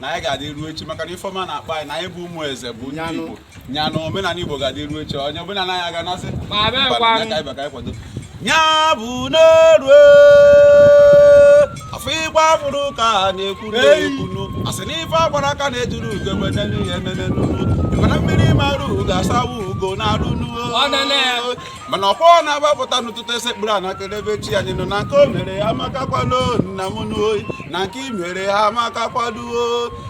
na anyị ga-adị ruo echi maka na ife ọma na-akpọ anyị na anyị bụ ụmụ eze bụ ndị Igbo nya na omenala Igbo ga-adị ruo echi onye ọbụla na anyị aga nasị nya bụ na o ruo afọ ịgba fụrụ ka na-ekwu n'ekwunu asị n'ife agbara aka na-ejuru ugo menenu ihe menenu mana mmiri mara ugo asawa ugo n'arụ n'uo mana ọkwa ọ na-agbapụta n'ụtụtụ esekpuru a nakere ebe chi anyị nọ na nke o mere ya amakakwado nna m n'oyi na nke i mere ya amakakwado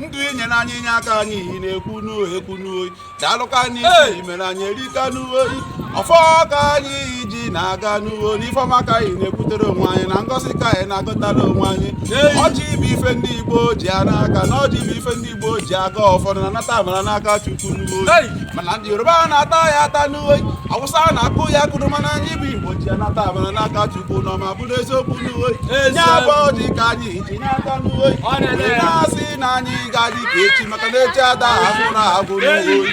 ndụ i nyere anyị inye aka anyị iyi na-ekwu n'oyi ekwu n'oyi daalụ ka anyị isi mere anyị erika n'oyi ọfọ ka anyị ji na-aga n'uwe n'ife ọma ka anyị na-ekwutere onwe anyị na ngọzi ka anyị na-agọtara onwe anyị ọjị bụ ife ndị Igbo ji ya n'aka na ọjị bụ ife ndị Igbo ji agọ ọfọ na-anata amara n'aka Chukwu n'uwe oyi mana ndị Yoruba na-ata ya ata n'uwe Awụsa na-akụ ya akụrụ mana anyị bụ Igbo ji anata amara n'aka Chukwu na ọma bụrụ eziokwu n'uwe oyi ya bụ ọjị ka anyị ji n'aka n'uwe oyi na-asị na anyị ga-adị ka echi maka na echi ada agwụrụ agwụ n'uwe oyi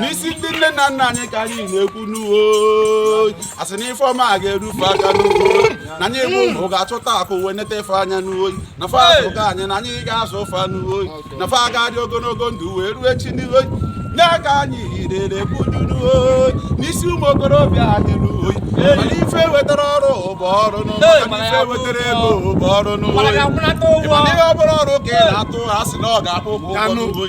n'isi ndị nne na nna anyị ka anyị na-ekwu n'uwe asị na ife ọma a ga-eru fa aka n'uwe na anyị bụ ụmụ ga-achọta akụ wee neta fa anya n'uwe na fa azụgo anyị na anyị ga-azụ fa n'uwe na fa ga-adị ogologo ndụ wee ruo echi n'iwe nye aka anyị yirere budu n'uwe n'isi ụmụ okorobịa anyị n'uwe mana ife wetara ọrụ bụ ọrụ n'ụwa ife wetara ego bụ ọrụ n'ụwa mana ihe ọ bụla ọrụ aka ị na-arụ a sị na ọ ga-akwụ ụgwọ n'uwe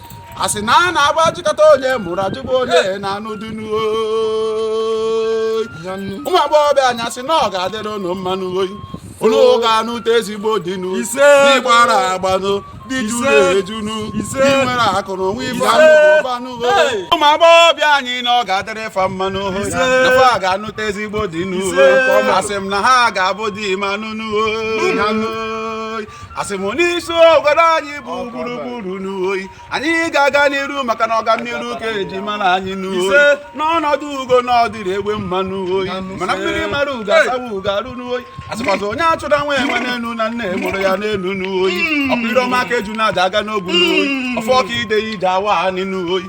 a sị na a na-agba ajụkata onye mụrụ a jụba onye na-anụ dunu ụmụ agbọghọbịa anyị a sị na ọ ga-adịrị unu mma nụ oyi unu ga-anụta ezigbo di nụ di gbara agba nụ di juru eju nụ di nwere akụ na onwe ife anụ ụmụ agbọghọbịa anyị na ọ ga-adịrị fa mma nụ oyi na fa ga-anụta ezigbo di nụ asị m na ha ga-abụ di ma nụnụ oyi asị m n'isi obodo anyị bụ gburugburu n'oyi anyị ga-aga n'iru maka na ọganiru ka eji mara anyị n'oyi na ọnọdụ ugo na ọ dịrọ egbe mma n'oyi mana mmiri mara ugo asawa ugo arụ n'oyi a sịkwazị onye achụna nwa enwe n'elu na nne ya mụrụ ya n'elu n'oyi hmm. ọkpụrụ ọma ka ejuna ji aga n'ogwu n'oyi hmm. ọfọ ka ide ji awa anị n'oyi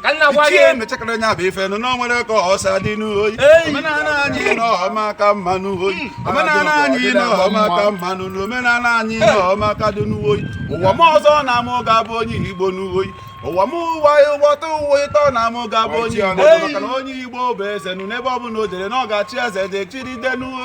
ichie mechakara nya bụ ife nụ na o nwere ka o si adị n'oyi omenala anyị na ọ maka mma n'oyi hmm. omenala anyị na ọ maka mma nụ na omenala anyị na ọ maka dị n'uwoyi ụwa m ọzọ na mụ ga-abụ onye igbo n'uwoyi ụwa m ụwa ụwọta ụwa ịtọ na mụ ga-abụ onye igbo maka na onye igbo bụ eze nụ n'ebe ọ bụla o jere na ọ ga-achị eze dị chiride n'uwo